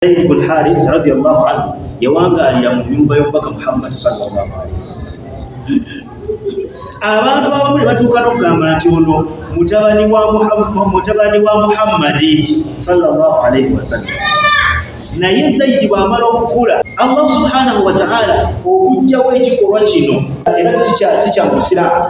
Zaid bin Harith radiyallahu anhu yawangaalira mu nyumba y'omubaka Muhammad sallallahu alaihi wasallam. Abantu abamu ne batuuka n'okugamba nti ono mutabani wa mutabani wa Muhammadi sallallahu alaihi wasallam. Naye Zaidi bw'amala okukula, Allah subhanahu wa ta'ala okujjawo ekikolwa kino era si kya Musiraamu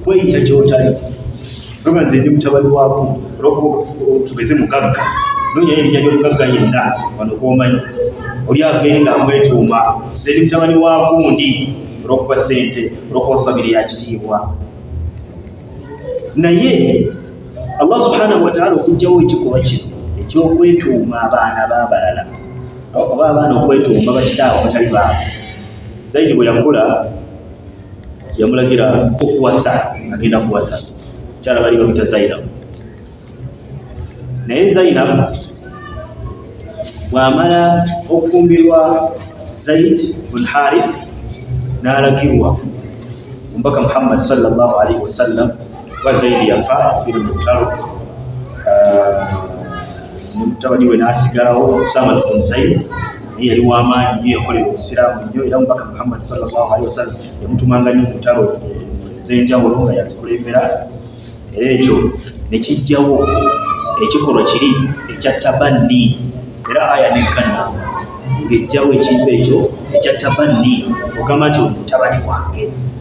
kweyita kyotali oba nze ndi mutabani waako olwokuba tugeze mugagga nonya erinnya ly'omugagga yenna wano kwomanyi oli avee nga amwetuuma nze ndi mutabani waakundi olwokuba ssente olwokuba famire ya kitiibwa naye allah subhanahu wataala okugjawo ekikolwa kino ekyokwetuuma abaana babalala oba abaana okwetuuma bakitaawo batali baabo zaidi bwe yakula yamulagira okuwasa agenda kuwasa kyala bali bamita zainab naye zainab bwamala okufumbirwa zaid bun harith n'alagirwa omubaka muhammad salllahu alaihi wasallam kuba zaidi yafa biri mu lutalo mutabani we n'asigalawo samad bun zaid naye yali w'amaanyi nyo yakolera obusiraamu nnyo era mubaka muhammad salllahu alihi wasallam yamutumanga nnyo mutalo ez'enjawulo nga yazikulembera era ekyo ne kijjawo ekikolwa kiri ekya tabanni era aya nekkana ng'ejjawo ekintu ekyo ekya tabanni ogamba nti omutabani wange